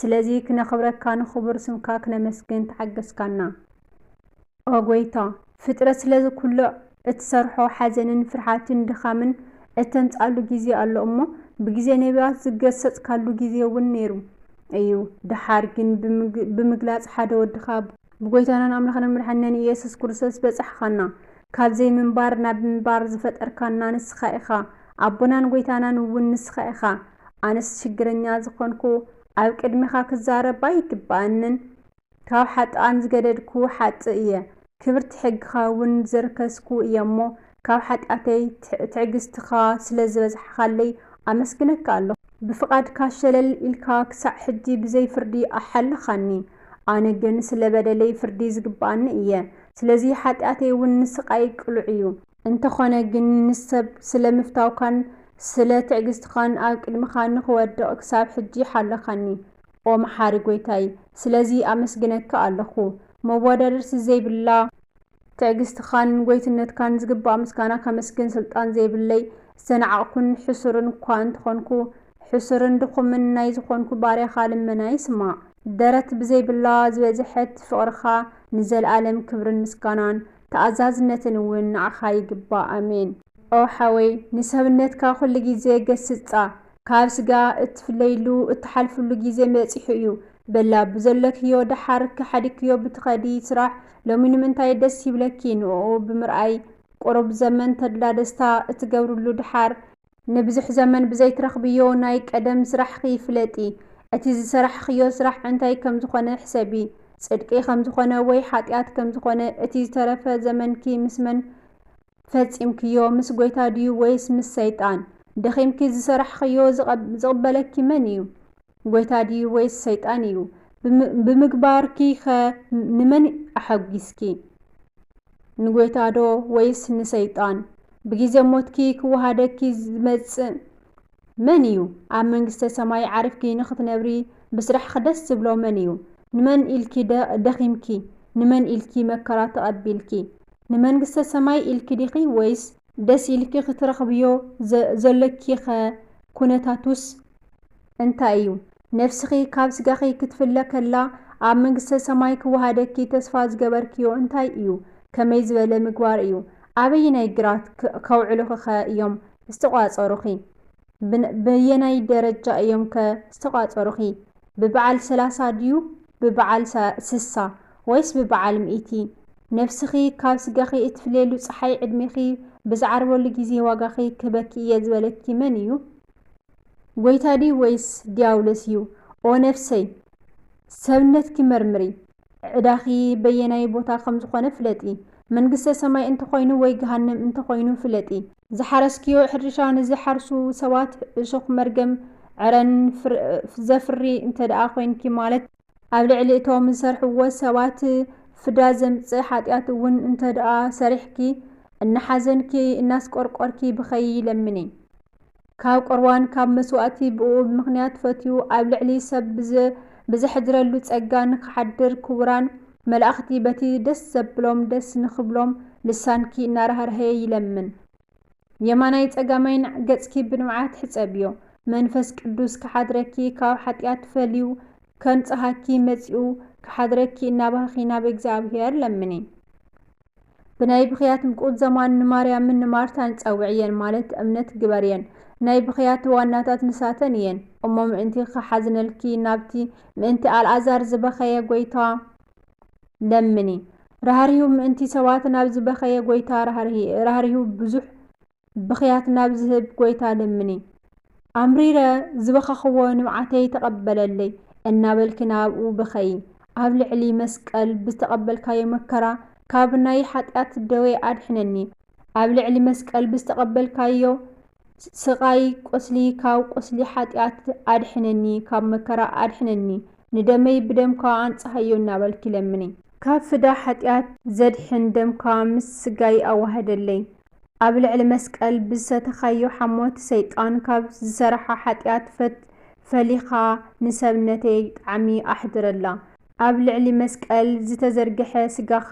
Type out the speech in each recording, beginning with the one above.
ስለዚ ክነኽብረካ ንኽቡር ስምካ ክነመስግን ተሓገስካና ኦ ጎይታ። ፍጥረት ስለዚ ኩሉ እትሰርሖ ሓዘንን ፍርሓትን ድኻምን እተምጽኣሉ ግዜ ኣሎ እሞ ብግዜ ነብያት ዝገሰጽካሉ ግዜ ውን ነይሩ እዩ ድሓር ግን ብምግላጽ ሓደ ወድኻ ብጎይታናን ኣምላኽናን መድሓኒናን ኢየሱስ ክርስቶስ በጻሕኻና ካብ ዘይምንባር ናብ ምንባር ዝፈጠርካና ንስኻ ኢኻ ኣቦናን ጎይታናን ውን ንስኻ ኢኻ ኣነስ ሽግረኛ ዝኾንኩ ኣብ ቅድሜኻ ክዛረብ ኣይግበኣንን ካብ ሓጥኣን ዝገደድኩ ሓጥእ እየ ክብርቲ ሕግኻ እውን ዘርከስኩ እየሞ ካብ ሓጢኣተይ ትዕግስትኻ ስለዘበዝሓኻለይ ኣመስግነካ ኣለኹ ብፍቓድካ ሸለል ኢልካ ክሳዕ ሕጂ ብዘይ ፍርዲ ኣሓለኻኒ ኣነ ግን ስለበደለይ ፍርዲ ዝግበኣኒ እየ ስለዚ ሓጢኣተይ እውን ንስቓይ ቅሉዕ እዩ እንተኾነ ግን ንሰብ ስለ ምፍታውካን ስለ ትዕግስትኻን ኣብ ቅድሚኻ ንኽወድቕ ክሳብ ሕጂ ሓለኻኒ ኦ መሓሪ ጎይታይ ስለዚ ኣመስግነካ ኣለኹ መወዳድርቲ ዘይብላ ትዕግስትኻን ጎይትነትካን ዝግባእ ምስጋና ከመስግን ስልጣን ዘይብለይ ዝተናዓቕኩን ሕሱርን እኳ እንተኾንኩ ሕሱርን ድኹምን ናይ ዝኾንኩ ባርያኻ ልመናይ ስማዕ ደረት ብዘይብላ ዝበዝሐት ፍቕርኻ ንዘልኣለም ክብርን ምስጋናን ተኣዛዝነትን እውን ንዓኻ ይግባእ ኣሜን። ኦው ሓወይ ንሰብነትካ ኩሉ ግዜ ገስጻ ካብ ስጋ እትፍለይሉ እትሓልፍሉ ግዜ በጺሑ እዩ በላ ብዘለክዮ ደሓር ከሓዲክዮ ብትኸዲ ስራሕ ሎሚ ንምንታይ ደስ ይብለኪ ንኡኡ ብምርኣይ ቁሩብ ዘመን ተድላ ደስታ እትገብርሉ ደሓር ንብዙሕ ዘመን ብዘይትረኽብዮ ናይ ቀደም ስራሕኺ ፍለጢ። እቲ ዝሰራሕኽዮ ስራሕ እንታይ ከም ዝኾነ ሕሰቢ። ጽድቂ ከም ዝኾነ ወይ ሓጢኣት ከም ዝኾነ፣ እቲ ዝተረፈ ዘመንኪ ምስ መን ፈጺምክዮ፣ ምስ ጐይታ ድዩ ወይስ ምስ ሰይጣን? ደኺምኪ ዝሰራሕኽዮ ዝቕበለኪ መን እዩ? ጐይታ ድዩ ወይስ ሰይጣን እዩ? ብምግባርኪኸ ንመን ኣሐጒስኪ? ንጐይታዶ ወይስ ንሰይጣን? ብጊዜ ሞትኪ ኪወሃደኪ ዚመጽእ መን እዩ? ኣብ መንግስተ ሰማይ ዓሪፍኪ ንኽትነብሪ ብስራሕኺ ደስ ዚብሎ መን እዩ? ንመን ኢልኪ ደኺምኪ? ንመን ኢልኪ መከራ ተቐቢልኪ? ንመንግስተ ሰማይ ኢልኪ ዲኺ ወይስ ደስ ኢልኪ ክትረኽብዮ ዘሎኪኸ ኵነታቱስ እንታይ እዩ? ነፍስኺ ካብ ስጋኺ ክትፍለ ከላ ኣብ መንግስተ ሰማይ ክወሃደኪ ተስፋ ዝገበርክዮ እንታይ እዩ? ከመይ ዝበለ ምግባር እዩ? ኣበየናይ ግራት ከውዕሉኺኸ እዮም ዝተቋጸሩኺ? በየናይ ደረጃ እዮም ከ ዝተቋፀሩኺ? ብበዓል ሰላሳ ድዩ ብበዓል ስሳ ወይስ ብበዓል ሚእቲ? ነብስኺ ካብ ስጋኺ እትፍልየሉ ፀሓይ ዕድሜኺ ብዝዓርበሉ ግዜ ዋጋኺ ክህበኪ እየ ዝበለኪ መን እዩ? ጎይታ ድዩ ወይስ ድያብሎስ እዩ? ኦ ነብሰይ! ሰብነትኪ መርምሪ! ዕዳኺ በየናይ ቦታ ከም ዝኾነ ፍለጢ። መንግስተ ሰማይ እንተኾይኑ ወይ ገሃነም እንተኾይኑ ፍለጢ። ዝሓረስክዮ ሕርሻ ንዝሓርሱ ሰባት እሾኽ መርገም ዕረን ዘፍሪ እንተድኣ ኮይንኪ ማለት ኣብ ልዕሊ እቶም ዝሰርሕዎ ሰባት ፍዳ ዘምጽእ ሓጢኣት እውን እንተድኣ ሰሪሕኪ እናሓዘንኪ እናስቆርቆርኪ ብኸዪ ለምኒ። ካብ ቁርባን ካብ መስዋእቲ ብእኡ ብምኽንያት ፈትዩ ኣብ ልዕሊ ሰብ ብዘ ብዘሕድረሉ ጸጋ ንኽሓድር ክቡራን መላእኽቲ በቲ ደስ ዘብሎም ደስ ንኽብሎም ልሳንኪ እናራህርሀየ ይለምን የማናይ ጸጋማይን ገጽኪ ብንብዓት ሕጸብዮ መንፈስ ቅዱስ ክሓድረኪ ካብ ሓጢኣት ፈልዩ ከንጽሃኪ መጺኡ ክሓድረኪ እናበኽኺ ናብ እግዚኣብሔር ለምኒ። ብናይ ብኽያት ምቁዘማን ንማርያምን ንማርታን ጸውዕየን ማለት እምነት ግበርየን ናይ ብኽያት ዋናታት ንሳተን እየን እሞ ምእንቲ ክሓዝነልኪ ናብቲ ምእንቲ ኣልኣዛር ዝበኸየ ጎይታ ለምኒ ራህሪሁ ምእንቲ ሰባት ናብ ዝበኸየ ጎይታ ራህሪሁ ብዙሕ ብኽያት ናብ ዝህብ ጎይታ ለምኒ። ኣምሪረ ዝበኸኽዎ ንብዓተይ ተቐበለለይ እናበልኪ ናብኡ ብኸዪ። ኣብ ልዕሊ መስቀል ብዝተቐበልካዮ መከራ ካብ ናይ ሓጢኣት ደዌ ኣድሕነኒ። ኣብ ልዕሊ መስቀል ብዝተቐበልካዮ ስቓይ ቁስሊ ካብ ቁስሊ ሓጢኣት ኣድሕነኒ፣ ካብ መከራ ኣድሕነኒ፣ ንደመይ ብደምካ ኣንጽሃዮ እናበልኪ ለምኒ። ካብ ፍዳ ሓጢኣት ዘድሕን ደምካ ምስ ስጋይ ኣዋህደለይ። ኣብ ልዕሊ መስቀል ብዝሰተኻዮ ሓሞት ሰይጣን ካብ ዝሰረሓ ሓጥያት ፈት ፈሊኻ ንሰብነተይ ጣዕሚ ኣሕድረላ ኣብ ልዕሊ መስቀል ዝተዘርገሐ ስጋኻ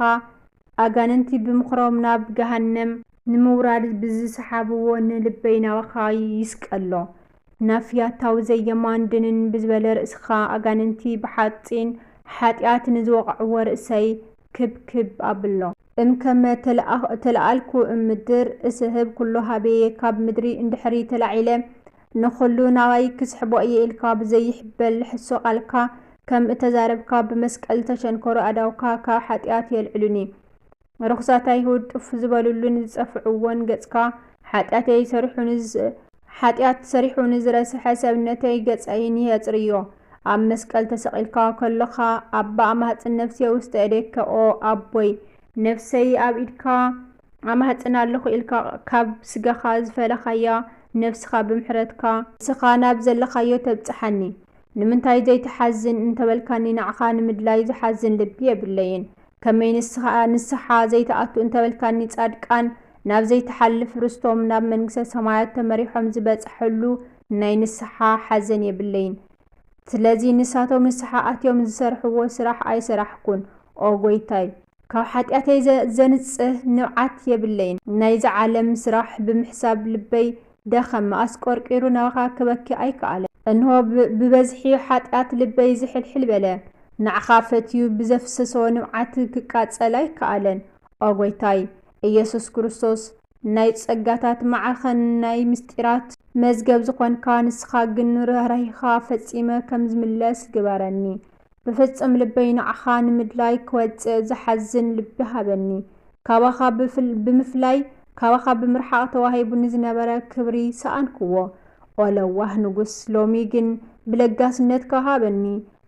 ኣጋንንቲ ብምኽሮም ናብ ገሃነም ንምውራድ ብዝሰሓብዎ ንልበይ ናባኻ ይስቀሎ ናፍ ያታዊ ዘየማን ድንን ብዝበለ ርእስኻ ኣጋንንቲ ብሓጺን ሓጥያት ንዝወቐዕዎ ርእሰይ ክብ ክብ ኣብሎ። እም ከመ ተለኣልኩ እም ምድር እስሕብ ኵሎ ኀቤየ፣ ካብ ምድሪ እንድሕሪ ተላዒለ ንዅሉ ናባይ ክስሕቦ እየ ኢልካ ብዘይሕበል ሕሶ ቓልካ ከም እተዛረብካ፣ ብመስቀል እተቸንከሩ ኣእዳውካ ካብ ሓጢኣት የልዕሉኒ። ርኹሳት ኣይሁድ ጥፍ ዝበሉሉን ዝጸፍዕዎን ገጽካ፣ ሓጢኣተይ ሰሪሑ ሓጢኣት ሰሪሑ ንዝረሰሐ ሰብነተይ ገጸይን የጽርዮ። ኣብ መስቀል ተሰቂልካ ከሎኻ ኣባ ኣማህጽን ነፍሴ ውስተ እዴከ ኦ ኣቦይ ነፍሰይ ኣብ ኢድካ ኣማህጽን ኣለኹ ኢልካ ካብ ስጋኻ ዝፈለኻያ ነፍስኻ ብምሕረትካ ንስኻ ናብ ዘለኻዮ ተብጽሓኒ። ንምንታይ ዘይትሓዝን እንተበልካኒ ንዓኻ ንምድላይ ዝሓዝን ልቢ የብለይን። ከመይ ንስኻ ንስሓ ዘይትኣቱ እንተበልካኒ ጻድቃን ናብ ዘይትሓልፍ ርስቶም ናብ መንግስተ ሰማያት ተመሪሖም ዝበጸሐሉ ናይ ንስሓ ሓዘን የብለይን ስለዚ ንሳቶም ንስሓ ኣትዮም ዝሰርሕዎ ስራሕ ኣይሰራሕኩን ኦ ጎይታይ ካብ ሓጥያተይ ዘንጽህ ንብዓት የብለይን ናይዛ ዓለም ስራሕ ብምሕሳብ ልበይ ደኸመ ኣስቆርቂሩ ናባኻ ክበኪ ኣይከኣለ እንሆ ብበዝሒ ሓጥያት ልበይ ዝሕልሕል በለ ናዕኻ ፈትዩ ብዘፍሰሶ ንብዓት ክቃጸል ኣይከኣለን ኦ ጎይታይ እየሱስ ክርስቶስ ናይ ጸጋታት ማዕከን ናይ ምስጢራት መዝገብ ዝኾንካ ንስኻ ግን ርህራሄኻ ፈጺመ ከም ዝምለስ ግበረኒ ብፍጽም ልበይ ንዓኻ ንምድላይ ክወጽእ ዝሓዝን ልቢ ሃበኒ ካባኻ ብምፍላይ ካባኻ ብምርሓቕ ተዋሂቡኒ ዝነበረ ክብሪ ሰኣንክዎ ኦለዋህ ንጉስ ሎሚ ግን ብለጋስነትካ ሃበኒ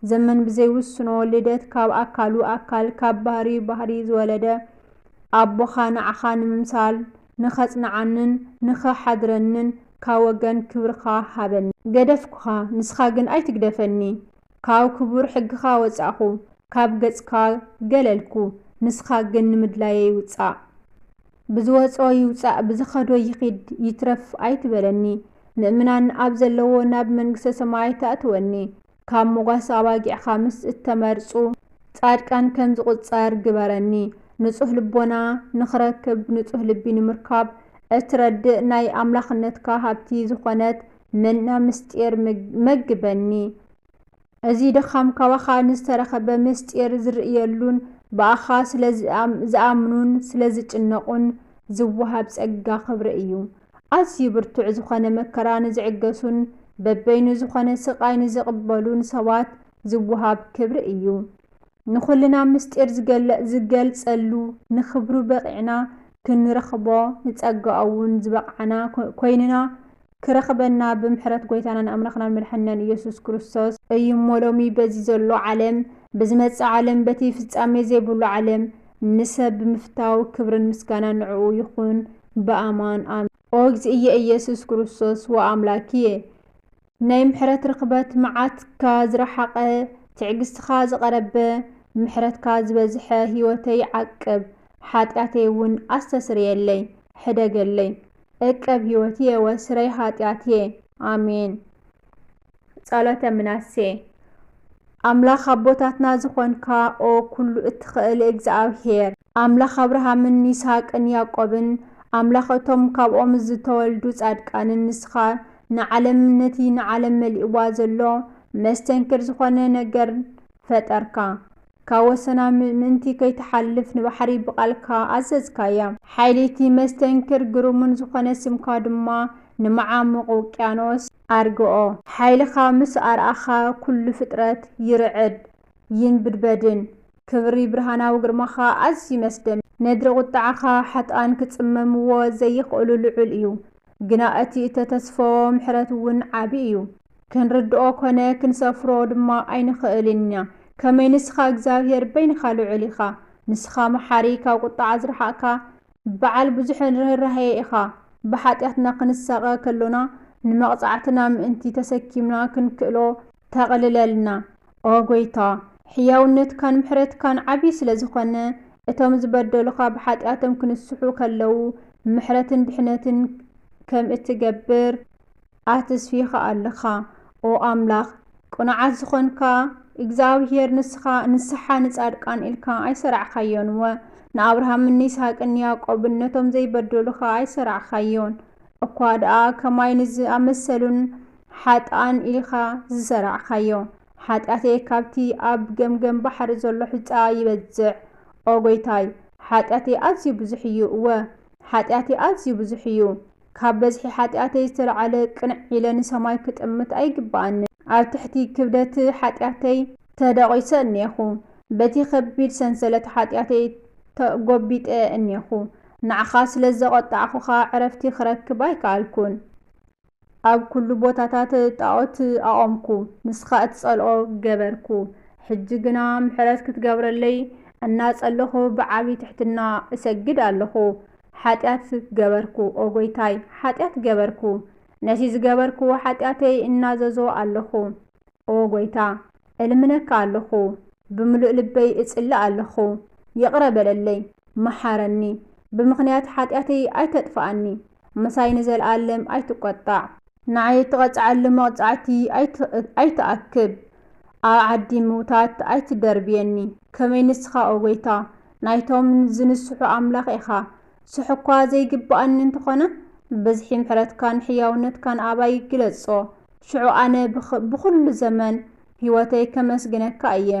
ዘመን ብዘይውስኖ ልደት ካብ ኣካሉ ኣካል ካብ ባህርዩ ባህርይ ዝወለደ ኣቦኻ ንዓኻ ንምምሳል ንኸጽንዓንን ንኸሓድረንን ካብ ወገን ክብርኻ ሃበኒ። ገደፍኩኻ ንስኻ ግን ኣይትግደፈኒ ካብ ክቡር ሕግኻ ወጻእኹ ካብ ገጽካ ገለልኩ ንስኻ ግን ንምድላየይ ውጻእ ብዝወጽኦ ይውጻእ ብዝኸዶ ይኺድ ይትረፍ ኣይትበለኒ ምእምናን ኣብ ዘለዎ ናብ መንግስተ ሰማይ ተእትወኒ ካብ ሞጓሰ ኣባጊዕ ኻምስ እተመርጹ ጻድቃን ከም ዝቝጸር ግበረኒ። ንጹህ ልቦና ንኽረክብ ንጹህ ልቢ ንምርካብ እትረድእ ናይ ኣምላኽነትካ ሃብቲ ዝኾነት መና ምስጢር መግበኒ። እዚ ድኻም ካባኻ ንዝተረኸበ ምስጢር ዝርእየሉን ብኣኻ ስለ ዝኣምኑን ስለ ዝጭነቑን ዝወሃብ ጸጋ ኽብሪ እዩ። ኣዝዩ ብርቱዕ ዝኾነ መከራ ንዝዕገሱን በበይኑ ዝኾነ ስቓይ ንዝቕበሉን ሰባት ዝወሃብ ክብሪ እዩ። ንኹልና ምስጢር ዝገልጸሉ፣ ንኽብሩ በቒዕና ክንረኽቦ፣ ንጸጋኡ'ውን ዝበቕዓና ኮይንና ክረኽበና ብምሕረት ጎይታናን ኣምላኽናን መድሓኒናን ኢየሱስ ክርስቶስ፣ እዩ እሞ ሎሚ በዚ ዘሎ ዓለም ብዝመጽእ ዓለም በቲ ፍጻሜ ዘይብሉ ዓለም ንሰብ ብምፍታው ክብርን ምስጋናን ንዕኡ ይኹን። ብኣማን ኣሜን። ኦ እግዚእየ ኢየሱስ ክርስቶስ ወኣምላክየ ናይ ምሕረት ርኽበት መዓትካ ዝረሓቐ ትዕግስትኻ ዝቐረበ ምሕረትካ ዝበዝሐ ሕይወተይ ዓቅብ ሓጢኣተይ እውን ኣስተስርየለይ ሕደገለይ እቀብ ሕይወትየ ወስረይ ኃጢኣትየ ኣሜን። ጸሎተ ምናሴ ኣምላኽ ኣቦታትና ዝኾንካ ኦ ኩሉ እትኸእል እግዝኣብሄር፣ ኣምላኽ ኣብርሃምን ይስሃቅን ያእቆብን፣ ኣምላኽ እቶም ካብኦም ዝተወልዱ ጻድቃንን ንስኻ ንዓለም ነቲ ንዓለም መሊእዋ ዘሎ መስተንክር ዝኾነ ነገር ፈጠርካ። ካብ ወሰና ምእንቲ ከይትሓልፍ ንባሕሪ ብቓልካ ኣዘዝካያ። ሓይሊ'ቲ መስተንክር ግሩምን ዝኾነ ስምካ ድማ ንመዓሙቕ ውቅያኖስ፣ ኣርግኦ። ሓይልኻ ምስ ኣርኣኻ ኩሉ ፍጥረት ይርዕድ ይንብድበድን። ክብሪ ብርሃናዊ ግርማኻ ኣዝዩ መስደምም። ነድሪ ቁጥዓኻ ሓጥኣን ክጽመምዎ ዘይኽእሉ ልዑል እዩ። ግና እቲ እተተስፈዎ ምሕረት እውን ዓቢ እዩ። ክንርድኦ ኮነ ክንሰፍሮ ድማ ኣይንኽእልን ኢና። ከመይ ንስኻ እግዚኣብሄር በይንኻ ልዑል ኢኻ። ንስኻ መሓሪ ካብ ቁጥዓ ዝረሓቕካ በዓል ብዙሕ ርህራሄ ኢኻ፣ ብሓጢኣትና ክንሳቐ ከሎና ንመቕጻዕትና ምእንቲ ተሰኪምና ክንክእሎ ተቕልለልና። ኦ ጐይታ፣ ሕያውነትካን ምሕረትካን ዓቢ ስለ ዝኾነ፣ እቶም ዝበደሉኻ ብሓጢኣቶም ክንስሑ ከለዉ ምሕረትን ድሕነትን ከም እትገብር፣ ኣተስፊካ ኣለካ ኦ ኣምላክ ቅኑዓት ዝኮንካ እግዝኣብሄር ንስካ ንስሓ ንጻድቃን ኢልካ ኣይሰራዕካዮን እወ ንኣብርሃምን ንይስሃቅን ንያቆብን ነቶም ዘይበደሉ ከኣ ኣይሰራዕካዮን እኳ ደኣ ከማይ ንዝኣመሰሉን ሓጥኣን ኢልካ ዝሰራዕካዮ ሓጢኣተይ ካብቲ ኣብ ገምገም ባሕሪ ዘሎ ሑጻ ይበዝሕ ኦ ጎይታይ ሓጢኣተይ ኣዝዩ ብዙሕ እዩ እወ ሓጢኣተይ ኣዝዩ ብዙሕ እዩ ካብ በዝሒ ሓጢኣተይ ዝተልዓለ ቅንዕ ኢለ ንሰማይ ክጥምት ኣይግብኣንን። ኣብ ትሕቲ ክብደት ሓጢኣተይ ተደቚሰ እኔኹ። በቲ ከቢድ ሰንሰለት ሓጢኣተይ ተጐቢጠ እኔኹ። ንዓኻ ስለ ዘቖጣዕኹኻ ዕረፍቲ ክረክብ ኣይከኣልኩን። ኣብ ኵሉ ቦታታት ጣኦት ኣቖምኩ፣ ንስኻ እትጸልኦ ገበርኩ። ሕጂ ግና ምሕረት ክትገብረለይ እናጸለኹ ብዓቢ ትሕትና እሰግድ ኣለኹ። ሓጢኣት ገበርኩ፣ ኦ ጐይታይ፣ ሓጢኣት ገበርኩ፣ ነቲ ዝገበርክዎ ሓጢኣተይ እናዘዞ ኣሎኹ። ኦ ጐይታ፣ እልምነካ ኣሎኹ፣ ብምሉእ ልበይ እጽሊ ኣሎኹ፣ ይቕረ በለለይ፣ መሓረኒ፣ ብምኽንያት ሓጢኣተይ ኣይተጥፍኣኒ፣ ምሳይ ንዘልኣለም ኣይትቈጣዕ። ንዓይ እትቐጽዓሉ መቕጻዕቲ ኣይትኣክብ፣ ኣብ ዓዲ ምዉታት ኣይትደርብየኒ፣ ከመይ ንስኻ ኦ ጐይታ፣ ናይቶም ዝንስሑ ኣምላኽ ኢኻ። ስሕ እኳ ዘይግብኣኒ እንተኾነ፣ ብዝሒ ምሕረትካን ሕያውነትካን ኣባይ ግለጾ። ሽዑ ኣነ ብኹሉ ዘመን ህይወተይ ከመስግነካ እየ።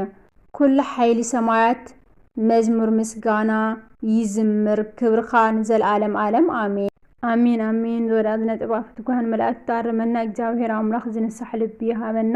ኩሉ ሓይሊ ሰማያት መዝሙር ምስጋና ይዝምር፣ ክብርኻ ንዘልኣለም ኣለም ኣሜን። ኣሜን ኣሜን ዝወዳት ነጥብ ኣፍትጓን መላእክት ኣርመና እግዚኣብሔር ኣምላክ ዝንሳሕ ልቢ ይሃበና